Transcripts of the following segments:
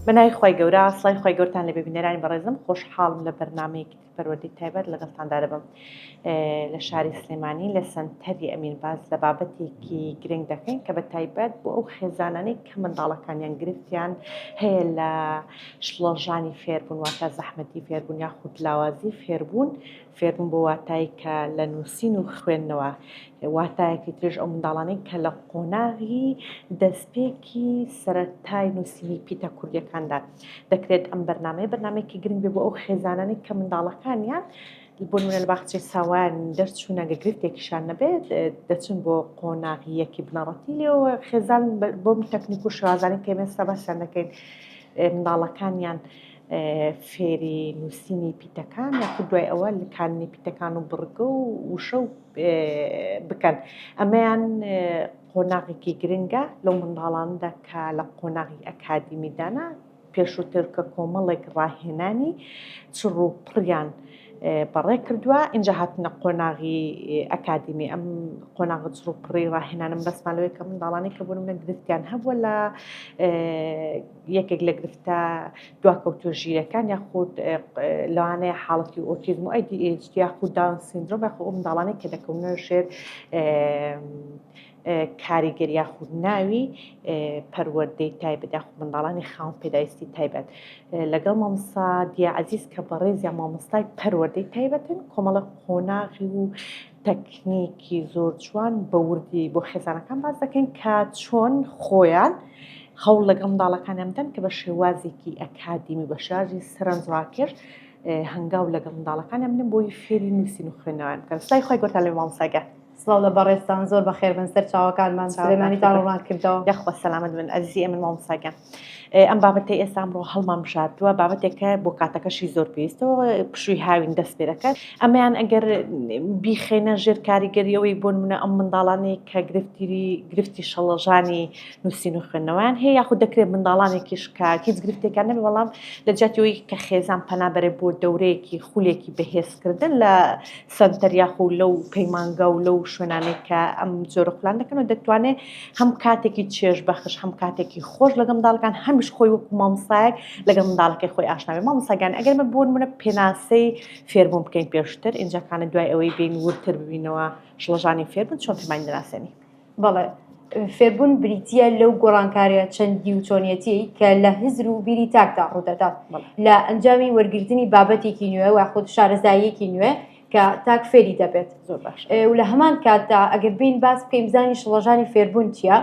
بە ناوی خوای گەورە سڵای خوای گەورتان لەبێ بینەرانی بەڕێزم خۆشحاڵم لە بەرنمەیەکی تر پەروەردەی تایبەت لەگەڵتاندا دەبم لە شاری سلێمانی لە سەنتەری ئەمین باز لە بابەتێکی گرنگ دەکەین کە بە تایبەت بۆ ئەو خێزانانەی کە منداڵەکانیان گرفتیان هەیە لە شڵەژانی فێربوون واتە زەحمەتی فێربوون یاخود لاوازی فێربوون فێربوون بۆ واتای کە لە نووسین و خوێندنەوە واتایەکی ترش ئەو منداڵانەی کە لە قۆناغی دەستپێکی سەرەتای نووسینی پیتە کوردیەکاندا دەکرێت ئەم بەرنمەیە بەرنمێکی گرنگ بێ بۆ ئەو خێزانانی کە منداڵەکانیان بۆ نوێن باخچەی ساوان دەرچوونە گەگرفتێکیشان نەبێت دەچن بۆ قۆناغیەکی بنەڕەتی لێەوە خێزان بۆم تەکنیک و شازانانی تێمێستا باسیان دەکەین منداڵەکانیان فێری نووسینی پیتەکان یاخود دوای ئەوە لکاندنی پیتەکان و بڕگە و وشە و بکەن ئەمەیان قۆناغێکی گرنگە لەو منداڵاندا کە لە قۆناغی ئەکادیمیدانا پێشووتر کە کۆمەڵێک ڕاهێنانی چڕ و پڕیان بەڕێ کردووە اینجا هاتنە قۆناغی ئەکادیمی ئەم قۆناغ چڕ و پڕی ڕاهێنانم بەسمان لەوەی کە منداڵانی کە بوون منە گرفتیان هەبووە لە یەکێک لە گرفتە دواکەوتوو ژیرەکان یاخود لەوانەیە حاڵەتی ئۆتیزم و ADHD یاخود داون سیندرۆم یاخود ئەو منداڵانەی کە دەکەونە ژێر کاریگەر یاخود ناوی پەروەردەی تایبەت یاخود منداڵانی خاوم پێداویستی تایبەت لەگەڵ مامسا دیعزیز کە بەڕێزیان مامۆستای پەروەردەی تایبەتن کۆمەڵە قۆناغی و تەکنیکی زۆر جوان بە وردی بۆ خێزانەکان باس دەکەین کە چۆن خۆیان هەوڵ لەگەڵ منداڵەکانیان بدەن کە بە شێوازێکی ئەکادیمی بە شێوازی سەرنجڕاکێش هەنگاو لەگەڵ منداڵەکانیان بدەن بۆی فێری نووسین و خوێندنەوەیان بکەن سڵای خۆی گۆتان لە مامۆستاگە سڵاو لە بەڕێزتان زۆر بەخێربن سەر چاوەکانمان سلێمانیتان ڕووناک کردەوە یاخوا سەلامەت بن ئەزیزی ئێمن مامۆستاگیان ئەم بابەتەی ئێستا ئەمڕۆ هەڵمان بژاردووە بابەتێکە بۆ کاتەکەشی زۆر پێویستەوە پشووی هاوین دەست پێ دەکات ئەمەیان ئەگەر بیخێنە ژێر کاریگەریەوەی بۆ منە ئەم منداڵانی کە گرفتیری گرفتی شەڵەژانی نووسین و خوێندنەوەیان هەیە یاخود دەکرێت منداڵانێکیش کە هیچ گرفتێکان نەبێ وەڵام لە جاتیەوەی کە خێزان پەنابەرێ بۆ دەورەیەکی خولێکی بەهێزکردن لە سەنتەر یاخو لەو پەیمانگا و لەو شوێنانەی کە ئەم جۆرە خولان دەکەن و دەتوانێت هەم کاتێکی چێژ بەخش هەم کاتێکی خۆش لەگەڵ منداڵەکان هەمیش خۆی وەکو مامۆستایەک لەگەڵ منداڵەکەی خۆی ئاشنابێت مامۆستاگیان ئەگەر من بۆ نمونە پێناسەی فێربوون بکەین پێشتر ئینجا کانە دوای ئەوەی بین وردتر ببینەوە شڵەژانی فێربوون چۆن پێمانی دەناسێنی. بەڵێ، فێربوون بریتییە لەو گۆڕانکاریە چەندی و چۆنیەتی کە لە هزر و بیری تاکدا ڕوودەدات لە ئەنجامی وەرگرتنی بابەتێکی نوێ و خود شارەزاییەکی نوێ کە تاک فێری دەبێت زۆر باش و لە هەمان کاتدا ئەگەر بین باس بکەین زانی شڵەژانی فێربوون چییە؟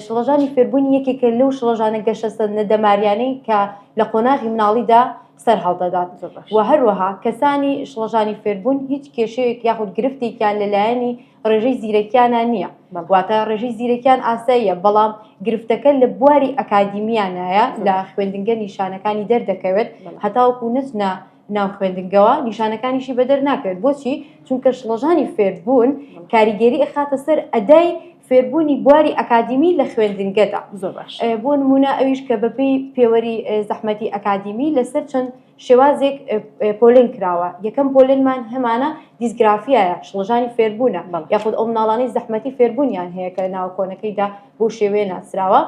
شڵەژانی فێربوونی یەکێکە لەو شڵەژانە گەشەسەندنە دەماریانەی کە لە قۆناغی مناڵیدا سەر هەڵدەدات و هەروەها کەسانی شڵەژانی فێربوون هیچ کێشەیەک یاخود گرفتێکیان لەلایەنی ڕێژەی زیرەکیانە نییە واتە ڕێژەی زیرەکیان ئاساییە بەڵام گرفتەکە لە بواری ئەکادیمیانایە لە خوێندنگە نیشانەکانی دەردەکەوێت هەتاوکو نەچنە ناو خوێندنگەوە نیشانەکانیشی بەدەر ناکەوێت بۆچی چونکە شڵەژانی فێربوون کاریگەری ئەخاتە سەر ئەدای فێربوونی بواری ئەکادیمی لە خوێندنگەدا زۆر باش بۆ نمونە ئەویش کە بەپی پێوەری زەحمەتی ئەکادیمی لەسەر چەند شێوازێک پۆلێن کراوە یەکەم پۆلێنمان هەمانە دیسگرافیایە شڵەژانی فێربوونە بەڵام یاخود ئەو مناڵانی زەحمەتی فێربوونیان هەیە کە ناوە کۆنەکەیدا بۆ شێوەیە ناسراوە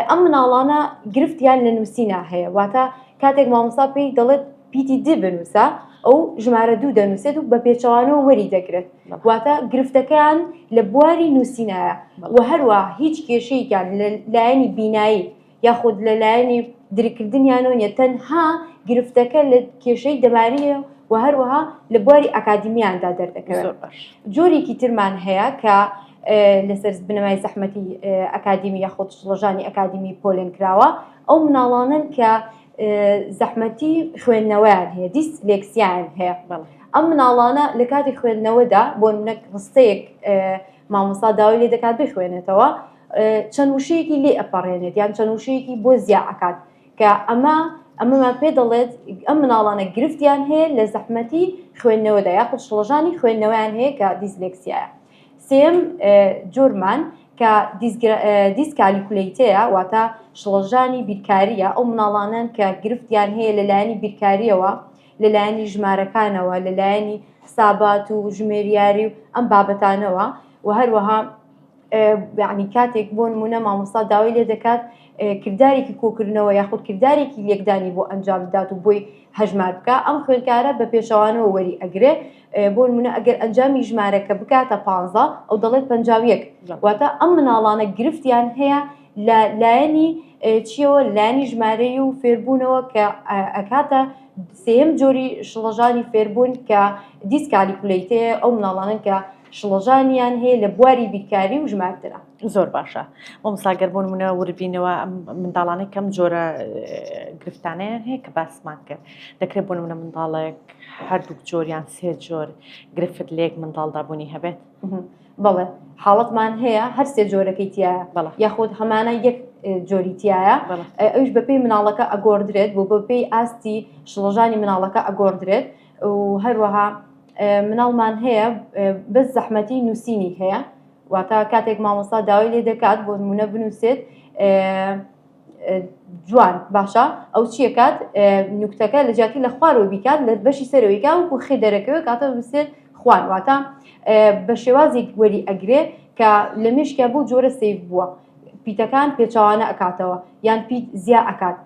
ئەم مناڵانە گرفتیان لە نووسینا هەیە واتە کاتێک مامۆستا پێی دەڵێت پیتی دی بنووسە ئەو ژمارە دوو دەنووسێت و بە پێچەوانەوە وەری دەگرێت واتە گرفتەکەیان لە بواری نووسینایە و هەروە هیچ کێشەیەکیان لە لایەنی بینایی یاخود لە لایەنی درککردنیانەوە نیە تەنها گرفتەکە لە کێشەی دەماریە و هەروەها لە بواری ئەکادمیاندا دەردەکەوێت جۆرێکی ترمان هەیە کە لەسەر بنەمای زەحمەتی ئەکادمی یاخود شڵەژانی ئەکادمی پۆلێن کراوە ئەو مناڵانن کە زەحمەتی خوێندنەوەیان هەیە دیست لێکسیان هەیە ئەم مناڵانە لە کاتی خوێندنەوەدا بۆ نەک ڕستەیەک مامۆستا داوای لێ دەکات بخوێنێتەوە چەند وشەیەکی لێ ئەپەڕێنێت یان چەند وشەیەکی بۆ زیا ئەکات کە ئەمە ئەمەمان پێ دەڵێت ئەم مناڵانە گرفتیان هەیە لە زەحمەتی خوێندنەوەدا یاخود شڵەژانی خوێندنەوەیان هەیە کە دیزلێکسیایە سێم جۆرمان کە دیسکالیکولیتەیە واتە شڵەژانی بیرکاریە ئەو مناڵانەن کە گرفتیان هەیە لەلایەنی بیرکاریەوە لەلایەنی ژمارەکانەوە، لەلایەنی حسابات و ژمێریاری و ئەم بابەتانەوە و هەروەها یعنی کاتێک بۆ نمونە مامۆستا داوای لێ دەکات کردارێکی کۆکردنەوە یاخود کردارێکی لێکدانی بۆ ئەنجام بدات و بۆی هەژمار بکە ئەم خوێنکارە بە پێچەوانەوە وەری ئەگرێ بۆ منە ئەگەر ئەنجامی ژمارەکە بکاتە پ ئەو دەڵێت پنجاویەک واتە ئەم مناڵانە گرفتیان هەیە لە لایەنی چیەوە لایەنی ژمارەی و فێربوونەوە کە ئەکاتە سێم جۆری شڵەژانی فێربوون کە دیسکالیکولیتەیە ئەو مناڵانن کە شڵەژانیان هەیە لە بواری بیرکاری و ژمارترا زۆر باشە بۆ مساگەر بۆ منە وربینەوە منداڵانەی کەم جۆرە گرفتانیان هەیە کە باسمان کرد دەکرێت بۆ منە منداڵێک هەردوو جۆریان سێ جۆر گرفت لێک منداڵدابوونی هەبێت بەڵێ حاڵەتمان هەیە هەر سێ جۆرەکەی تایە بەڵێ یاخود هەمانە یەک جۆری تایە بەڵێ ئە- ئەویش بەپێی مناڵەکە ئەگۆڕدرێت بۆ بەپێی ئاستی شڵەژانی مناڵەکە ئەگۆڕدرێت و هەروەها ئە، مناڵمان هەیە ئە، بەس زەحمەتی نووسینی هەیە واتە کاتێک مامۆستا داوای لێ دەکات بۆ نموونە بنووسێت ئە، جوان باشە ئەو چیەکات نوکتەکە لە جیاتی لە خوارەوە بیکات لە بەشی سەرەوەیکا وکو خی دەرەکەوێت کاتە بسێت خوان واتە بە شێوازێک وەری ئەگرێ کە لە مشکیا بۆ جۆرە سیف بووە پیتەکان پێچوانە ئەکاتەوە یان پیت زیا ئەکات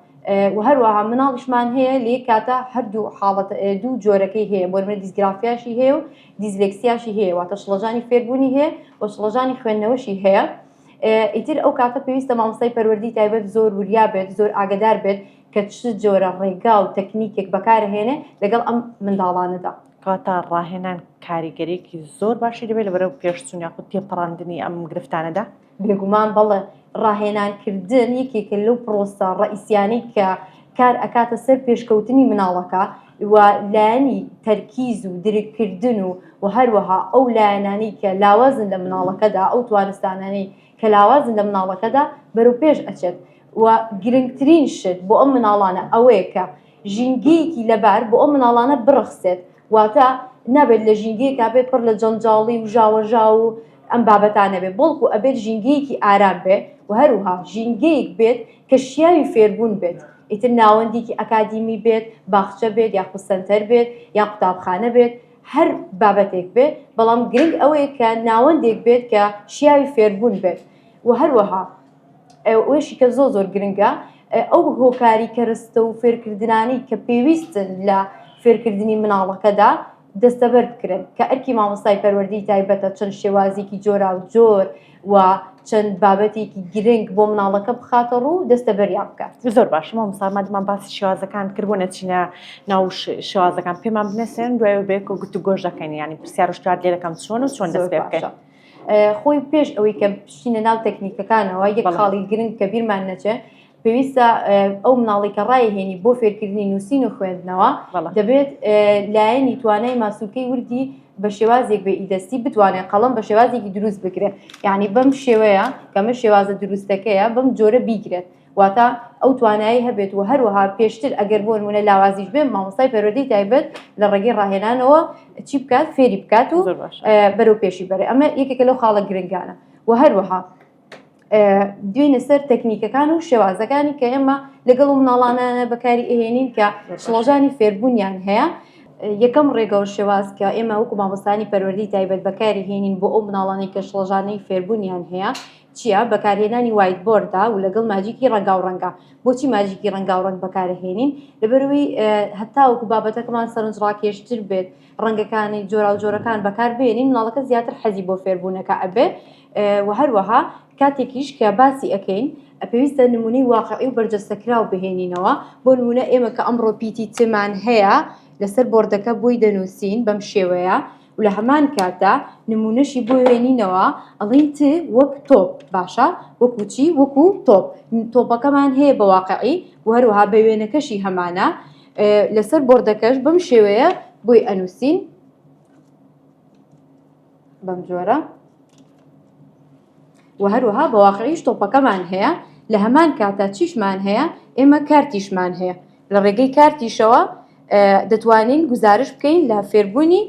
و هەروەها مناڵیشمان هەیە لێ کاتە هەردوو حاڵەت دوو جۆرەکەی هەیە بۆ منە دیسگرافیاشی هەیە و دیزلکسیاشی هەیە واتە شڵەژانی فێربوونی هەیە و شڵەژانی خوێندنەوەشی هەیە ئیتر ئەو کاتە پێویستە مامۆستای پەروەردی تایبەت زۆر وریا بێت زۆر ئاگدار بێت کە چ جۆرە ڕێگا و تەکنیکێک بەکارهێنێ لەگەڵ ئەم منداڵانەدا کەواتە ڕاهێنان کاریگەرێکی زۆر باشی دەبێت لە بەرەو پێشچون یاخود تێپەڕاندنی ئەم گرفتانەدا بێگومان بەڵێ ڕاهێنانکردن یەکێکە لەو پرۆسە ڕئیسیانەی کە کار ئەکاتە سەر پێشکەوتنی مناڵەکە و لایەنی تەرکیز و درککردن و و هەروەها ئەو لایەنانی کە لاوازن لە مناڵەکەدا ئەو توانستانانی کە لاوازن لە مناڵەکەدا بەرەو پێش ئەچێت و گرنگترین شت بۆ ئەم مناڵانە ئەوەیە کە ژینگەیەکی لەبار بۆ ئەو مناڵانە بڕەخسێت واتە نابێت لە ژینگەیەکا بێت پڕ لە جەنجاڵی و ژاوەژاو و ئەم بابەتانە بێت بەڵکو ئەبێت ژینگەیەکی ئارام بێت و هەروها ژینگەیەک بێت کە شیاوی فێربوون بێت ئیتر ناوەندێکی ئەکادیمی بێت باخچە بێت یاخود سەنتەر بێت یا قوتابخانە بێت هەر بابەتێک بێت بەڵام گرنگ ئەوەیە کە ناوەندێک بێت کە شیاوی فێربوون بێت و هەروەها ئەوەشی کە زۆ زۆر گرنگە ئەو هۆکاری کەرستە و فێرکردنانی کە پێویستن لە فێرکردنی مناڵەکەدا دەستەبەر بکرن کە ئەرکی مامۆستای پەروەردەی تایبەتە چەند شێوازێکی جۆرا و جۆر و چەند بابەتێکی گرنگ بۆ مناڵەکە بخاتە ڕوو دەستەبەریان بکات زۆر باشمە مسامادمان باسی شێوازەکان کردبوو نەچینە ناو شێوازەکان پێمان بنێسێن دوای بێک و گوتو گۆش دەکەین ینی پرسیار شتار لێ دەکەم چۆن و چۆن دەست پێ بکەین. خۆی پێش ئەوەی کە پشتینە ناو تەکنیکەکانەوە یەک خاڵی گرنگ کە بیرمان نەچێت پێویستە ئەو مناڵی کە ڕایهێنی بۆ فێرکردنی نووسین و خوێندنەوە دەبێت لایەنی توانای ماسوولکەی وردی بە شێوازێک بە ئیدەستی بتوانێت قەڵم بە شێوازێکی دروست بگرێت یعنی بەم شێوەیە کەمە شێوازە دروستەکەیە بەم جۆرە بیگرێت واتە ئەو توانایەی هەبێت و هەروەها پێشتر ئەگەر بۆ نمونە لاوازیش بێن مامۆستای پەروەردەی تایبەت لە ڕێگەی ڕاهێنانەوە چی بکات فێری بکات و زۆر باشە. ئە، بەرەو پێشی بەرێ ئەمە یەکێکە لەو خاڵە گرنگانە و هەروەها ئە، دوێنە سەر تەکنیکەکان و شێوازەکانی کە ئێمە لەگەڵ و مناڵانانە بەکاری ئەهێنین کە شڵەژانی فێربوونیان هەیە یەکەم ڕێگەوە شێواز کە ئێمە وەکو مامۆستانی پەروەردەی تایبەت بەکاری هێنین بۆ ئەو مناڵانەی کە شڵەژانەی فێربوونیان هەیە چیە بەکارهێنانی وایت بۆردە و لەگەڵ ماجیکی ڕەنگاو ڕەنگە بۆچی ماجیکی ڕەنگاو ڕەنگ بەکارەهێنین لەبەروی هەتاوەکو بابەتەکەمان سەرنج ڕاکێشتر بێت ڕەنگەکانی جۆراو جۆرەکان بەکار بێنین مناڵەکە زیاتر حەزی بۆ فێربوونەکە ئەبێ و هەروەها کاتێکیش کە باسی ئەەکەین پێویستە نمونەی واقعی و بەرجەستەکراو بهێنینەوە بۆ نمونە ئێمە کە ئەمڕۆ پیتی تمان هەیە لەسەر بۆردەکە بۆی دەنووسین بەم شێوەیە و لە هەمان کاتدا نموونەشی بۆ وێنینەوە ئەڵین ت وەک تۆپ باشە وەکو چی وەکو تۆپ تۆپەکەمان هەیە بە واقعی و هەروەها بە وێنەکەشی هەمانە لەسەر بردەکەش بەم شێوەیە بۆی ئەنووسین بەم جۆرە و هەروەها بە واقعیش تۆپەکەمان هەیە، لە هەمان کاتا چیشمان هەیە، ئێمە کارتیشمان هەیە، لە ڕێگەی کارتیشەوە دەتوانین گوزارش بکەین لە فێربوونی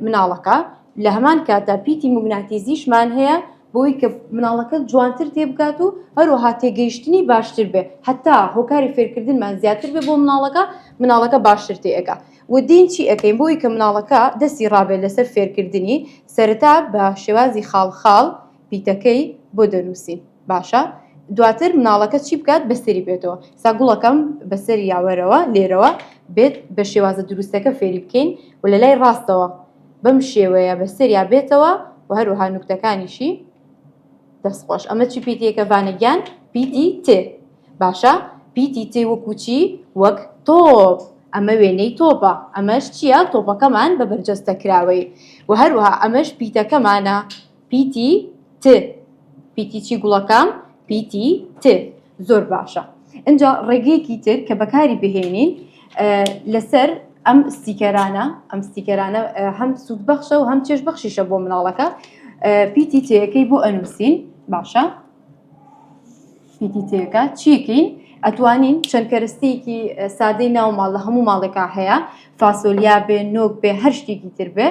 مناڵەکە، لە هەمان کاتا پیتی موگناتیزیشمان هەیە، بۆی کە مناڵەکە جوانتر تێبگات و هەروەها تێگەیشتنی باشتر بێ هەتا هۆکاری فێرکردنمان زیاتر بێ بۆ مناڵەکە مناڵەکە باشتر تێئەگا و دین چی ئەەکەین بۆی کە مناڵەکە دەستی ڕابێت لەسەر فێرکردنی سەرەتا بە شێوازی خاڵ خاڵ پیتەکەی بۆ دەنووسی باشە دواتر مناڵەکە چی بکات بەسەری بێتەوە سا گوڵەکەم بەسەری یاوەرەوە لێرەوە بێت بە شێوازە دروستەکە فێری بکەین و لە لای ڕاستەوە بەم شێوەیە بەسەریا بێتەوە و هەروەها نوکتەکانیشی دەست خۆش ئەمە چی پیتێکە بانە گیان پیتی ت باشە پیتی ت وەکو چی وەک تۆپ ئەمە وێنەی تۆپە ئەمەش چییە تۆپەکەمان بە بەرجەستە کراوەی و هەروەها ئەمەش پیتەکەمانە پیتی ت پیتی چی گوڵەکەم پیتی ت زۆر باشە ئەجا ڕێگەیەکی تر کە بەکاری بهێنین لەسەر ئەم ستیکەرانە ئەم ستیکەرانە هەم سوود بەخشە و هەم چێش بەخشیشە بۆ مناڵەکە پیتی تەکەی بۆ ئەنووسین باشە پیتی تێکە چیکین ئەتوانین چەند کەرستێکی سادەی ناو ماڵ لە هەموو ماڵێکا هەیە فاسۆلیا بێ نۆک بێ هەر شتێکی تر بێ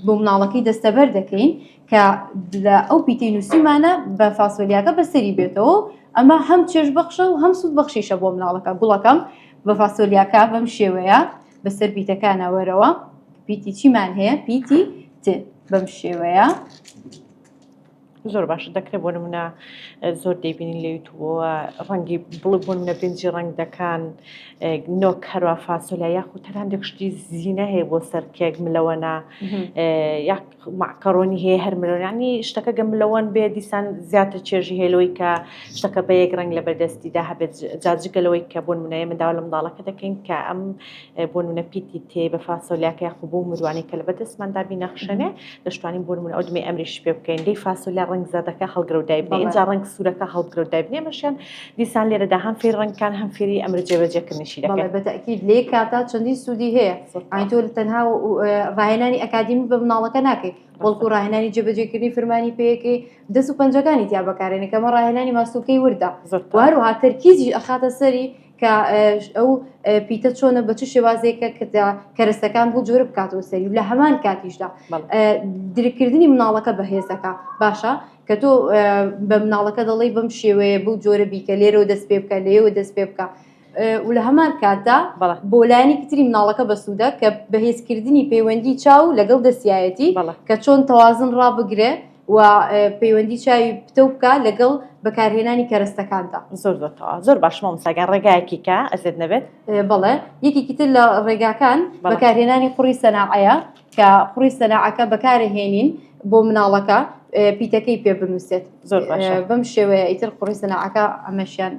بۆ مناڵەکەی دەستەبەر دەکەین کە لە ئەو پیتەی نووسیمانە بە فاسۆلیاکە بەسەری بێتەوە ئەمە هەم چێش بەخشە و هەم سوود بەخشیشە بۆ مناڵەکە گوڵەکەم بە فاسۆلیاکە بەم شێوەیە بەسەر پیتەکانە وەرەوە پیتی چیمان هەیە پیتی ت بەم شێوەیە زۆر باش دەکرێت بۆ منە زۆر دەیبینین لە یوتوبەوە ڕەنگی بڵبوون نە بنجی ڕنگ دەکان نۆ کەروا فاسۆلیا یاخود تەران دەکشتی زیینە هەیە بۆ سەرکێک ملەوەنا مەعکەرۆنی هەیە هەر مرۆیانی شتەکە گەم لەوەن بێ دیسان زیاتر چێژی هێلەوەی کە شتەکە بە یەک ڕنگ لە بەردەستیدا هەبێت جاجگە لەوەی کە بۆن منایە منداوە لە منداڵەکە دەکەین کە ئەم بۆن منە پیتی تێ بە فاسۆلیاکە یاخو بۆ مروانی کە لە بەدەستماندا بینەخشێنێ دەشتوانین بۆن من ئەودمێ ئەمریش پێ بکەین دەی فاسۆلیا ڕنگ زەردەکە هەڵگرەودای بێ جا ڕنگ سوورەکە هەڵگرەودای بنێمەشیان دیسان لێرەدا هەم فێری ڕەنگەکان هەم فێری ئەمر جێبەجێکردنیشی دەکەن. بەڵێ بەتەئکید لەی کاتا چەندین سوودی هەیە ئاین تۆ تەنها ڕاهێنانی ئەکادیمی بە مناڵەکە ناکەیت بەڵکو ڕاهێنانی جێبەجێکردنی فرمانی پێیەکەی دەست و پەنجەکانی تیا بەکارێنە کەمە ڕاهێنانی ماسولکەی وردە وهروها تەرکیزی ئەخاتە سەری کە ئەو پیتە چۆنە بە چ شێوازێکە کە کەرەستەکان بۆ جۆر بکاتەوە سەری لە هەمان کاتیشدا درککردنی مناڵەکە بەهێزەکە باشە کە تۆ بە مناڵەکە دەڵێی بەم شێوەیە بەو جۆرە بیکە لێرەوە دەست پێ بکە لێەوە دەست پێ بکە و لە هەمان کاتدا بۆ لایەنی کتری مناڵەکە بەسوودە کە بەهێزکردنی پەیوەندی چاو لەگەڵ دەستایەتی کە چۆن تەوازن ڕابگرێ و پەیوەندی چاوی پتە بکە لەگەڵ بەکارهێنانی کەرەستەکاندا زۆر زۆر زۆر باشمە مساگە ڕێگایەکی کە ئەزێت نەبێت بەڵێ یەکێکی تر لە ڕێگاکان بەکارهێنانی قوڕی سەناعەیە کە قوڕی سەناعەکە بەکارهێنین بۆ مناڵەکە پیتەکەی پێ بنووسێت زۆر بەم شێوەیە ئیتر قوڕی سەناعەکە ئەمەشیان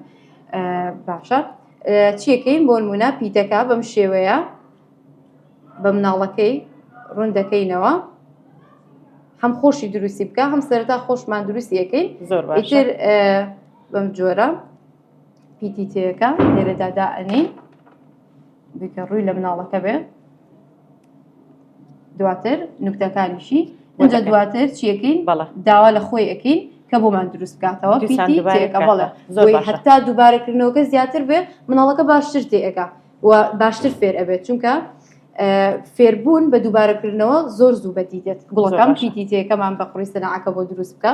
باشە چیەکەین بۆ نمونە پیتەکە بەم شێوەیە بە مناڵەکەی ڕوون دەکەینەوە هەم خۆشی دروستی بکە هەم سەرتا خۆشمان دروستیەکەین زۆر باشتر بەم جۆرە پیتیتەکە لێرەدا دائنی بکە ڕووی لە مناڵەکە بێ دواتر نوکتەکانیشی ئەجا دواتر چیەکەین بەڵە داوا لە خۆی ئەەکەین کە بۆمان دروست بکاتەوە بەڵە زۆر هەتا دووبارەکردنەوەکە زیاتر بێ مناڵەکە باشتر تێئەکە و باشتر فێر ئەبێت چونکە فێربوون بە دووبارەکردنەوە زۆر زوو بەدی دێت گوڵەکەم پیتیتەکەمان بە قڕی سەنعەکە بۆ دروست بکە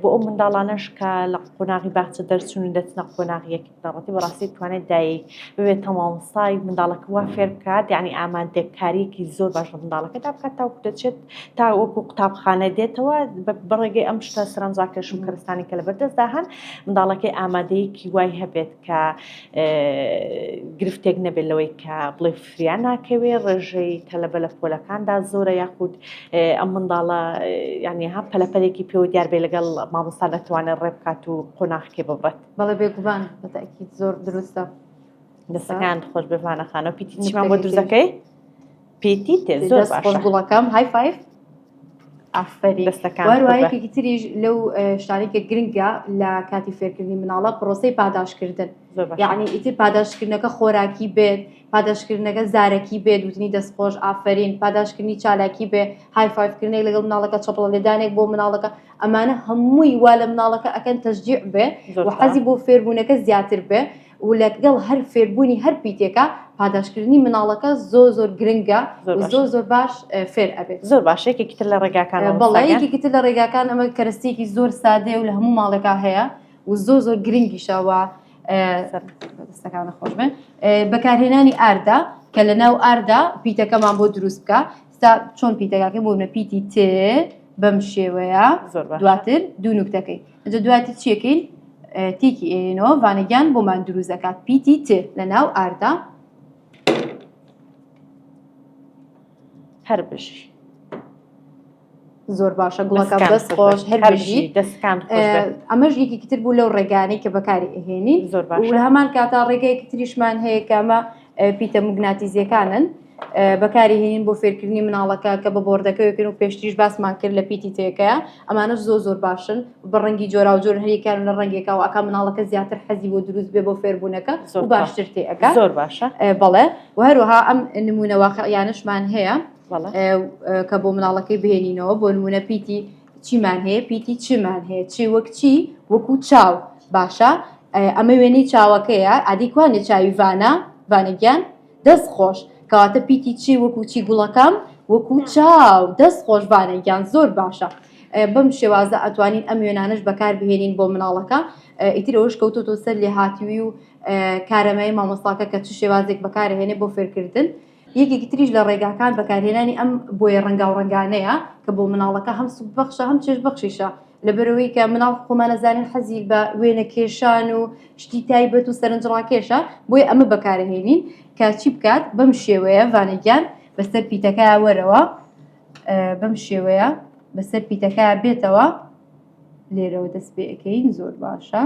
بۆ ئەو منداڵانەش کە لە قۆناغی باخچە دەرچوون و دەچنە قۆناغی یەکی بنەڕەتی بەڕاستی توانێت دایک ببێت تەمامسای منداڵەکە وا فێر بکات یعنی ئامادەکاریەکی زۆر باش لە منداڵەکەدا بکات تاوکو دەچێت تا وەکو قوتابخانە دێتەوە بەڕێگەی ئەم شتە سەرنجڕاکێش و کەرستانی کە لە بەردەستدا هەن منداڵەکەی ئامادەیەکی وای هەبێت کە گرفتێک نەبێت لەوەی کە بڵێ فریا ناکەوێ ڕێژەی تەلەبە لە پۆلەکاندا زۆرە یاخود ئەم منداڵە یعنی ها پەلەپەلێکی پێوە دیار بێ لەگەڵ مامۆستا دەتوانێت ڕێ بکات و قۆناخکێ ببڕێت بەڵێ بێگومان بەتاکیت زۆر دروستە دەستەکان خۆش بێوانەخانە پیتی چیمان بۆ دروستەکەی پیتی تێ زۆر باشە گوڵەکەم های فایف وایەکێکی تریش لەو شتانی کە گرنگە لە کاتی فێرکردنی مناڵە پرۆسی پاداشکردن یعنی ئیتر پاداشکردنەکە خۆراکی بێت پاداشکردنەکە زارەکی بێت وتنی دەستخۆش ئافرین پاداشکردنی چالاکی بێ هایفاکردنێک لەگەڵ مناڵەکە چپڵە لێدانێک بۆ مناڵەکە ئەمانە هەمووی وا لە مناڵەکە ئەکەن تەشجیع بێ حەزی بۆ فێربوونەکە زیاتر بێ و لەگەڵ هەر فێربوونی هەر پیتێکە پاداشکردنی مناڵەکە زۆر زۆر گرنگە زۆر زۆر باش فێر ئەبێت زۆر باشێکی تر لە ڕێگاکان بەڵێکی تر لە ڕێگاکان ئەمە کەرەستێکی زۆر سادێ و لە هەموو ماڵێکا هەیە و زۆر زۆر گرنگیشەوە دەستەکانە خۆش بن بەکارهێنانی ئاردا کە لە ناو ئاردا پیتەکەمان بۆ دروست بکە ستا چۆن پیتەکەکە بۆ نە پیتی تێ بەم شێوەیە دواتر دوو نوکتەکەی ئەجە دواتر چیەکەین تیکی ئێنەوە ڤانەگیان بۆمان دروست دەکات پیتی ت لە ناو ئاردا هەر بژی زۆر باشە گوڵەکە دەست خۆش هەر بژی دەستکان ئەمەش یەکیتر بوو لەو ڕێگانەی کە بەکاری ئەهێنین زۆر باش هەمان کاتا ڕێگەیەکی تریشمان هەیە کەمە پیتە موگناتیزیەکانن بەکاری هێنین بۆ فێرکردنی مناڵەکە کە بە بۆردەکەوێکن و پێشتریش باسمان کرد لە پیتی تێکەیە ئەمانە زۆ زۆر باشن بە ڕەنگی جۆرا و جۆر هەریکان لە ڕەنگێکا و ئەکا مناڵەکە زیاتر حەزی بۆ دروست بێ بۆ فێربوونەکە زۆر باشتر تێەکە زۆر باشە بەڵێ و هەروەها ئەم نمونەواقع یانشمان هەیە کە بۆ مناڵەکەی بێنینەوە بۆ نمونە پیتی چیمان هەیە پیتی چیمان هەیە چی وەک چی وەکو چاو باشە ئەمە وێنەی چاوەکەیە ئادیکوانێ چاوی ڤانە ڤانەگیان دەست خۆش کەواتە پیتی چی وەکو چی گوڵەکەم وەکو چاو دەست خۆش ڤانەگیان زۆر باشە بەم شێوازە ئەتوانین ئەم وێنانش بەکار بهێنین بۆ مناڵەکە ئیترەوەش کەوتۆتۆ سەر لێ هاتیوی و کارەمای مامۆستاکە کە چ شێوازێک بەکارهێنێ بۆ فێرکردن یەکێکی تریش لە ڕێگاکان بەکارهێنانی ئەم بۆیە ڕەنگاوڕەنگانەیە کە بۆ مناڵەکە هەم سوببەخشە هەم چێش بەخشیشە لە بەرەوەی کە مناڵ خۆمانەزانین حەزی بە وێنە کێشان و شتی تایبەت و سەرنجڕاکێشە بۆی ئەمە بەکارهێنین کە چی بکات بەم شێوەیە ڤانەگیان بەسەر پیتەکە وەرەوە بەم شێوەیە بەسەر پیتەکە بێتەوە لێرەوە دەست پێەکەین زۆر باشە.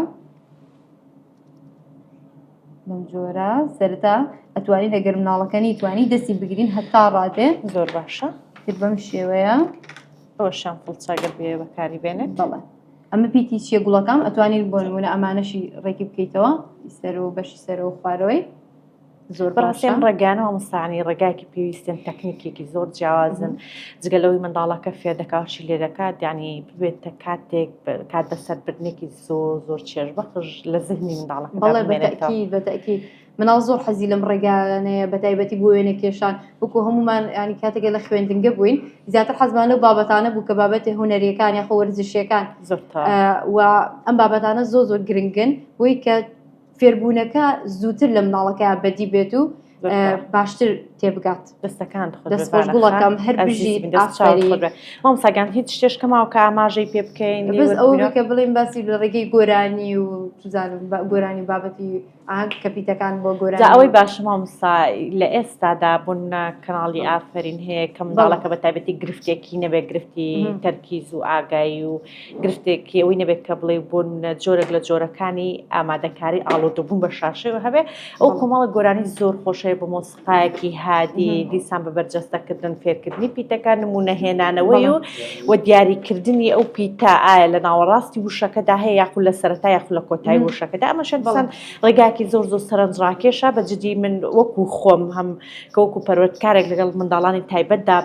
بەم جۆرە سەرتا ئەتوانی لەگەر مناڵەکە نیتوانی دەستی بگرین هەتا ڕادێ زۆر باشە تر بەم شێوەیە ئەوە شان فڵچەگەر بێ بەکاری بێنێت بەڵێ ئەمە پیتی چیە گوڵەکەم ئەتوانین بۆنمونە ئەمانەشی ڕێکی بکەیتەوە سەر و بەشی سەر و خوارەوەی بەڕاستێن ڕێگانە مامۆستایانی ڕێگایەکی پێویستن تەکنیکێکی زۆر جیاوازن جگە لەوەی منداڵەکە فێر دەکات چی لێ دەکات یعنی ببێتە کاتێک کات بەسەربردنێکی زۆر زۆر چێژ بەخش لە زهنی منداڵە بەڵێ بەتەکی بەتەکی مناڵ زۆر حەزی لەم ڕێگانەیە بە تایبەتی بۆ وێنە کێشان بکو هەمومان ینی کاتێکە لە خوێندنگە بووین زیاتر حەزمان لەو بابەتانە بوو کە بابەتی هوەریەکان یاخۆ وەرزشیەکان زۆر و ئەم بابەتانە زۆ زۆر گرنگن بۆی کە فێربوونەکە زووتر لە مناڵەکە بەدی بێت و باشتر تێبگات دەستەکان دەستگوڵەکەم هەر بژی مامساگان هیچ شتێشکەماوە کە ئاماژەی پێ بکەین بەس ئەوەکە بڵین باسی لە ڕێگەی گۆرانی و توزانم گۆرانی بابەتی ئاگ کە پیتەکان بۆ گۆران ئەوەی باشە مامسا لە ئێستادا بوون کەناڵی ئافرین هەیە کە منداڵەکە بە تایبەتی گرفتێکی نەبێت گرفتی تەرکیز و ئاگایی و گرفتێک ئەوی نەبێت کە بڵێ بۆ جۆرێک لە جۆرەکانی ئامادەکاری ئاڵۆدەبوون بە شاشەوە هەبێ ئەو کۆمەڵە گۆرانی زۆر خۆشەیە بە مۆسیقایەکی هادی دیسان بە بەرجەستەکردن فێرکردنی پیتەکان نمونەهێنانەوەی و و دیاریکردنی ئەو پیتا ئایا لە ناوەڕاستی وشەکەدا هەیە یاخو لە سەرەتا یاخو لە کۆتایی وشەکەدا ئەمە شەدسان ڕێگاکی زۆر زۆر سەرنجڕاکێشە بە جدی من وەکو خۆم هەم کە وەکو پەروەردکارێک لەگەڵ منداڵانی تایبەتدا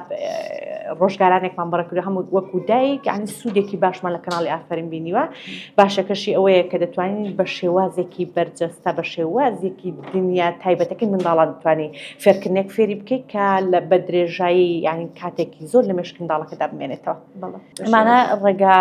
ڕۆژگارانێکمان بەڕکرد هەم وەکو دایک یعنی سوودێکی باشمان لە کەناڵی ئافرین بینیوە باشەکەشی ئەوەیە کە دەتوانین بە شێوازێکی بەرجەستە بە شێوازێکی دنیا تایبەتەکەی منداڵان دەتوانی فێرکردنێک فێری بکەیت کە لە بە درێژایی یعنی کاتێکی زۆر لە مشک منداڵەکەدا بمێنێتەوە ئەمانە ڕێگا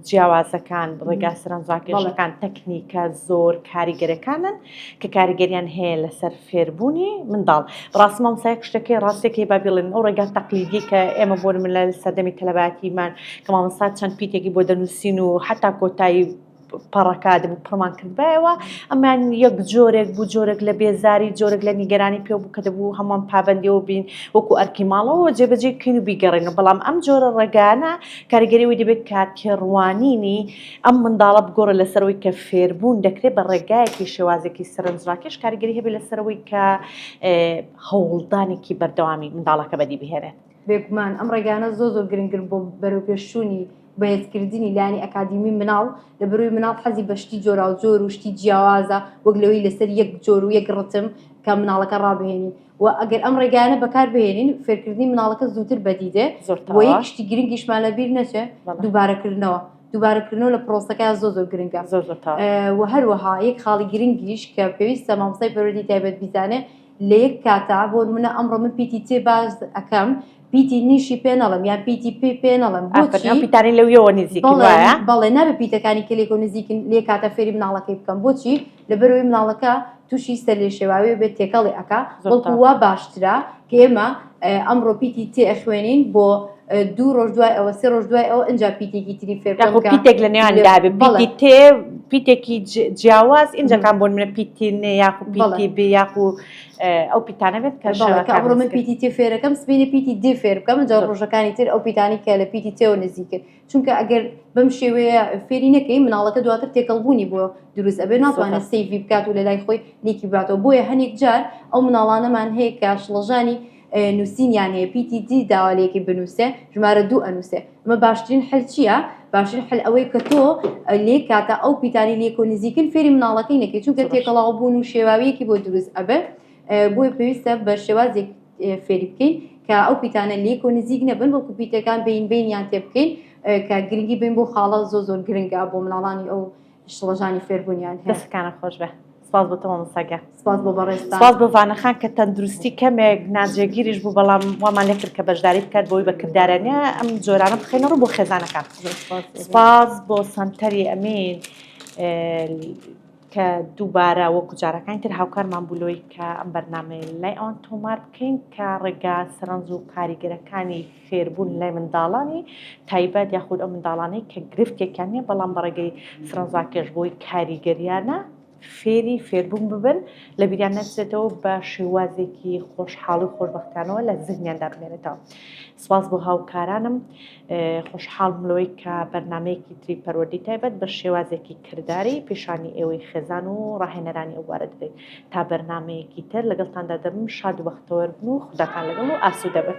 جیاوازەکان ڕێگا سەرنجڕاکێشەکان تەکنیکە زۆر کاریگەرەکانن کە کاریگەریان هەیە لەسەر فێربوونی منداڵ ڕاست مامسایە شتەکەی ڕاستەکەی با بڵێن ئەو ڕێگا تەقلیدی کە ئێمە بۆ من لە سەردەمی تەلەباتیمان کە مامەسا چەند پیتێکی بۆ دەنووسین و حتا کۆتایی پەڕەکادم پڕمان کردبایەوە ئەمان یەک جۆرێک بوو جۆرێک لە بێزاری جۆرێک لە نیگەرانی پێ بوو کە دەبوو هەمووان پابندەوە بین وەکو ئەرکی ماڵەوە جێبەجێ کین و بیگەڕێن و بەڵام ئەم جۆرە ڕێگانە کاریگەریەوەی دەبێت کاتێڕوانینی ئەم منداڵە بگۆڕە لەسەر ئەوەی کە فێربوون دەکرێت بە ڕێگایەکی شێوازێکی سەرنجڕاکێش کاریگەری هەبێت لەسەرەوەی کە هەوڵدانێکی بەردەوامی منداڵەکە بەدی بهێنێت. بێگومان ئەم ڕێگانە زۆ زۆر گرنگن بۆ بەرەوپێشچوونی بەهێزکردنی لایەنی ئەکادیمی منداڵ، لە بەروی منداڵ حەزی بە شتی جۆراوجۆر و شتی جیاوازە وەک لەوەی لەسەر یەک جۆر و یەک ڕتم کە منداڵەکە ڕابهێنی، و ئەگەر ئەم ڕێگایانە بەکار بهێنین فێرکردنی مناڵەکە زووتر بەدی دێ وە یەکشتی گرنگیشمان لە بیر نەچێ دووبارەکردنەوە دووبارەکردنەوە لە پرۆسەکە زۆ زۆر گرنگە زۆر و هەروەها یەک خاڵی گرنگیش کە پێویستە مامسای پەرۆدی تایبەت بیزانێ لە یەک کاتا بۆ منە ئەمڕۆ من پیتی تێ باز ئەەکەم پیتی نیشی پێ نەڵم یان پیتی پێ پێ نەڵم بۆچی پیتانی لەویەوە نزیک بەڵێ نابێ پیتەکانی کلێک و نزیکن لێ کاتە فێری مناڵەکەی بکەم بۆچی لەبەرەوەی مناڵەکە تووشی سەر لێ شێواوی بێت تێکەڵی ئەک بەڵکووا باشترە کە ئێمە ئەمڕۆ پیتی تێ خوێنین بۆ دوو ڕۆژ دوای ئەوە سێ ڕۆژ دوای ئەوە ئەجا پیتێکی تری فێر پیتێک لە نێوان دابێ بەڵی تێ پیتێکی جیاواز ئینجەکان بۆن منە پیتینێ یاخو بڵی بێ یاخو ئەو پیتانە بێت کە شەوەکە ئەمڕۆ من پیتی تێ فێرەکەم سبینە پیتی دی فێر بکەم جا ڕۆژەکانی تر ئەو پیتانی کە لە پیتی تێوە نزیکرد چونکە ئەگەر بەم شێوەیە فێری نەکەی مناڵەکە دواتر تێکەڵبوونی بۆ دروست ئەبێ ناتوانێت سیوی بکات و لە لای خۆی لیکی باتەوە بۆیە هەنێک جار ئەو مناڵانەمان هەیە کە شڵەژانی نووسین یان هەیە پیتی دی داوالەیەکی بنووسێ ژمارە دوو ئەنووسێ ئەمە باشترین حل چییە باشترین حل ئەوەی کە تۆ لێ کاتە ئەو پیتانی لێکۆ نزیکن فێری مناڵەکەی نەکەی چونکە تێکەڵاو بوون و شێواویەکی بۆ دروست ئەبێ بۆی پێویستە بە شێوازێک فێری بکەین کە ئەو پیتانە لێک و نزیک نەبن بۆ کوپیتەکان بین بینیان تێ بکەین کە گرنگی بین بۆ خاڵە زۆ زۆر گرنگە بۆ مناڵانی ئەو شڵەژانی فێربوونیان هەیە دەستەکانە خۆش بێ سپاس بۆ تەمام سەگە سپاس بۆ بەڕێز سپاس بۆ ڤانەخان کە تەندروستی کەمێک ناجێگیریش بوو بەڵام وامان لەکرد کە بەشداری بکات بۆی بە کردارانە ئەم جۆرانە بخێنە ڕوو بۆ خێزانەکان سپاس بۆ سەنتەری ئەمین کە دووبارە وەکو جارەکانی تر هاوکارمان بولۆی کە ئەم بەرنمەی لای ئەوان تۆمار بکەین کە ڕێگا سەرنج و کاریگەرەکانی فێربوون لای منداڵانی تایبەت یاخود ئەو منداڵانەی کە گرفتێکیان نییە بەڵام بە ڕێگەی سرەنزاکێش بۆی کاریگەریانە فێری فێربوون ببن لە بیریان نەچێتەوە بە شێوازێکی خۆشحاڵی و خۆشببختانەوە لە زیهنیاندا بمێنێتەوە سواز بۆ هاوکارانم خۆشحاڵ ملەوەی کە بەرنمەیەکی تری پەروەدی تایبەت بە شێوازێکی کردداری پیشانی ئێوەی خێزان و ڕاهێنەرانی ئەووارە دەبێت تا بەرنمەیەکی تر لەگەڵتاندا دەبم شاد و بەختەوەربن و خودتان لەگەڵ و ئاسوودەبن.